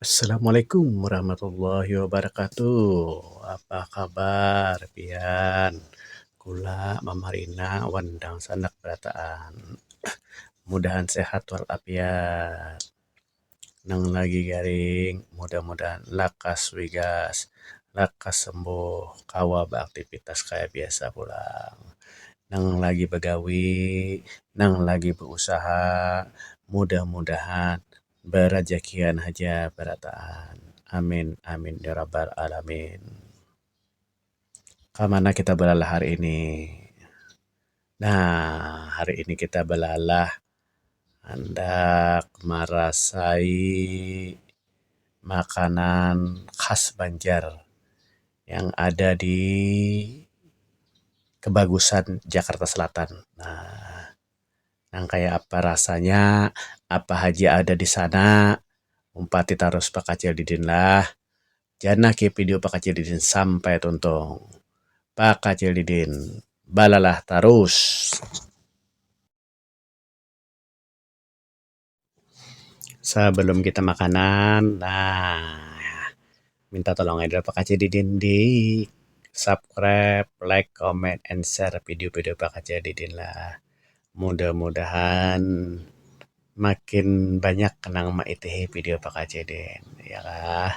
Assalamualaikum warahmatullahi wabarakatuh. Apa kabar pian? Kula Mama Rina wan dangsanak barataan. Mudahan sehat wal afiat. Nang lagi garing mudah-mudahan lakas wigas, lakas sembuh kawa beraktivitas kaya biasa pulang. Nang lagi begawi, nang lagi beusaha mudah-mudahan Barajakian haja barataan. Amin amin ya rabbal alamin. Kamana kita balalah hari ini. Nah hari ini kita balalah handak marasai makanan khas banjar yang ada di kebagusan jakarta selatan. Nah. nang kaya apa rasanya, apa haja ada di sana, umpati tarus bakacil didin lah. Jar nah kaya video bakacil didin sampai tuntung. Bakacil didin, balalah tarus. Sabalum kita makanan nah minta tolong ai Pakcik Didin di subscribe, like, comment and share video-video Pakcik Didin lah. Mudah-mudahan makin banyak nang maitihi video Pakcik Didin ya kah.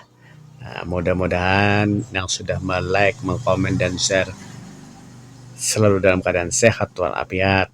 Mudah-mudahan yang sudah me-like, me-comment dan share selalu dalam keadaan sehat walafiat.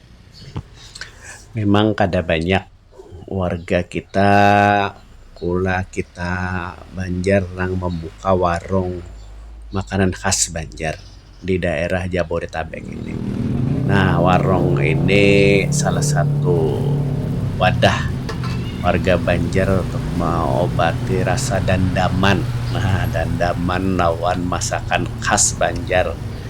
Mimang kada banyak warga kita kula kita Banjar nang mambuka warung makanan khas Banjar di daerah Jabodetabek ini. Nah warung ini salah satu wadah warga Banjar untuk maobati rasa dandaman dandaman lawan masakan khas Banjar.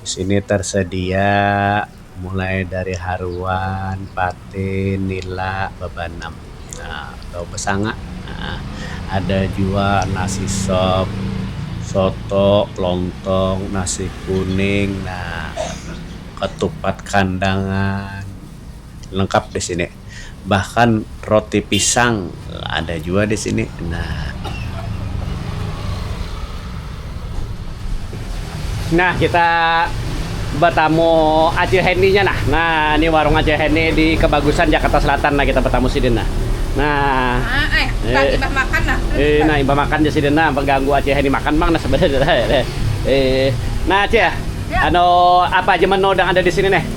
Di sini tarsadia mulai dari haruan, patin, nila, babanam um atau basanga um ada jua nasi sop, soto, lontong, nasi kuning um katupat kandangan lengkap di sini. bahkan roti pisang ada jua di sini nah. Nah kita betamu acil Hendy nya nah, nah ini warung acil Hendy di kebagusan Jakarta Selatan nah kita betamu sidin nah, nah eh imbah makan nah eh nah imbah makan ja sidin nah beganggu acil Hendy makan pang nah sebenarnya eh nah cil anu apa aja menu nang ada di sini nih.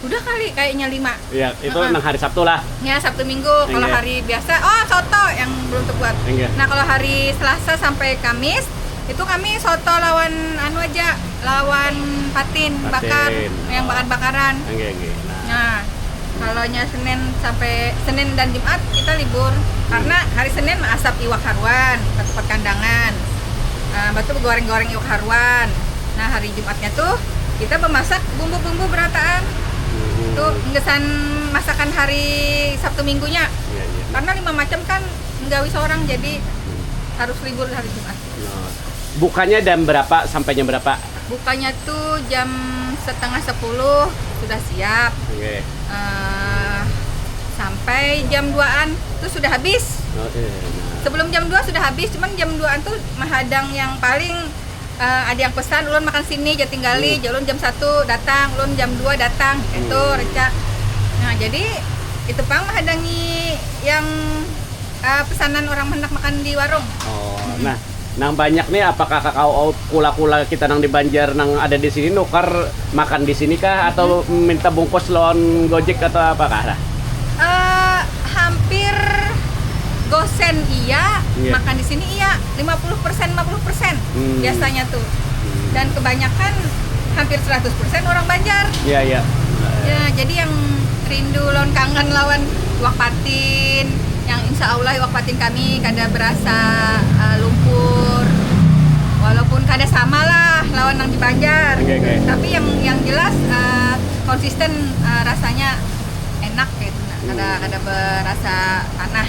udah kali kayaknya lima iya itu uh -huh. nang hari Sabtu lah ya Sabtu Minggu kalau hari biasa oh soto yang belum terbuat Enggak. nah kalau hari Selasa sampai Kamis itu kami soto lawan anu aja lawan patin, patin. bakar oh. yang bakar bakaran Enggak, enggak. nah, nah kalau Senin sampai Senin dan Jumat kita libur hmm. karena hari Senin asap iwak haruan tempat kandangan uh, batu goreng-goreng iwak haruan nah hari Jumatnya tu kita bamasak bumbu-bumbu berataan tu gasan masakan hari Sabtu Minggunya. Karna lima macam kan menggawi seorang jadi harus libur hari Jumat. Bukanya jam berapa sampai jam berapa? Bukanya tu jam setengah sepuluh sudah siap sampai jam duaan tu sudah habis. Sebelum jam dua sudah habis cuman jam duaan tu mahadang yang paling. ada yang pesan ulun makan sini jam tinggali ulun jam satu datang ulun jam dua datang itu reca nah jadi itu pang menghadangi yang uh, pesanan orang hendak makan di warung oh hmm. nah nang banyak nih apakah kakak oh, kula-kula kita nang di Banjar nang ada di sini nukar makan di sini kah atau hmm. minta bungkus lawan Gojek atau apa kah? Nah? Uh, hampir gosen iya, yeah. makan di sini iya. lima puluh persen lima puluh persen hmm. biasanya tuh hmm. dan kebanyakan hampir 100 persen orang Banjar iya iya ya jadi yang rindu lawan kangen lawan wak patin yang insya Allah wak patin kami kada berasa uh, lumpur walaupun kada sama lah lawan yang di Banjar okay, okay. tapi yang yang jelas uh, konsisten uh, rasanya enak gitu nah. kada hmm. kada berasa tanah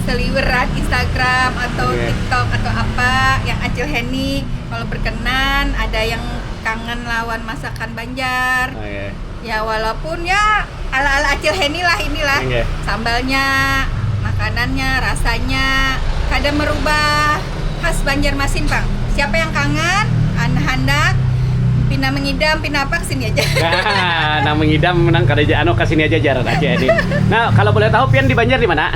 seliweran instagram atau tiktok atau apa yang acil heni kalau berkenan ada yang kangen lawan masakan banjar ya walaupun ya ala ala acil heni lah inilah sambalnya makanannya rasanya kada merubah khas banjarmasin pang siapa yang kangen handak pina mengidam pina apa kesini aja hahaha nang mengidam nang kada anu kesini aja jar acil heni nah kalau boleh tahu pian di banjar dimana.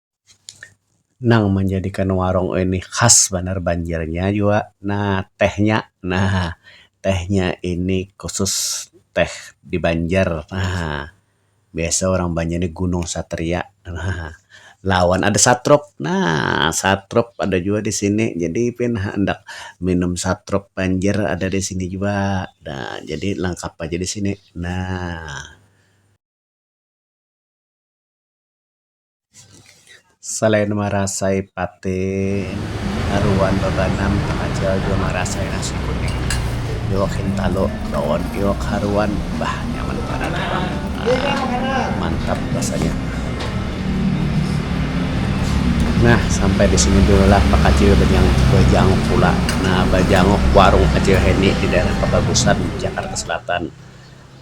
nang manjadikan warung ini khas banar banjarnya jua nah tehnya nah tehnya ini khusus teh di banjar nah biasa orang banjar ni gunung satria nah lawan ada satrup nah satrup ada jua di sini jadi pian handak minum satrup banjar ada di sini jua nah jadi langkap aja di sini nah. Salain marasai pate, haruan babanam tamajal jua marasai nasi kuning, iwak hintalu lawan iwak haruan. Bah, nyaman banar am. Mantap rasanya. Nah, sampai di sini dululah bakacil bajanguk bajanguk pula. Nah, bajanguk warung Acil Heni di daerah Kabagusan, Jakarta Selatan.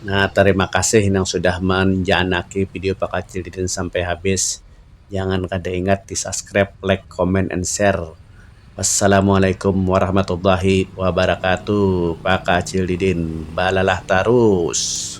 Nah tarima kasih nang sudah manjanaki video pakacil Deden sampai habis. Jangan kada ingat di subscribe, like, comment and share. Wassalamualaikum warahmatullahi wabarakatuh pakacil Deden balalah tarus.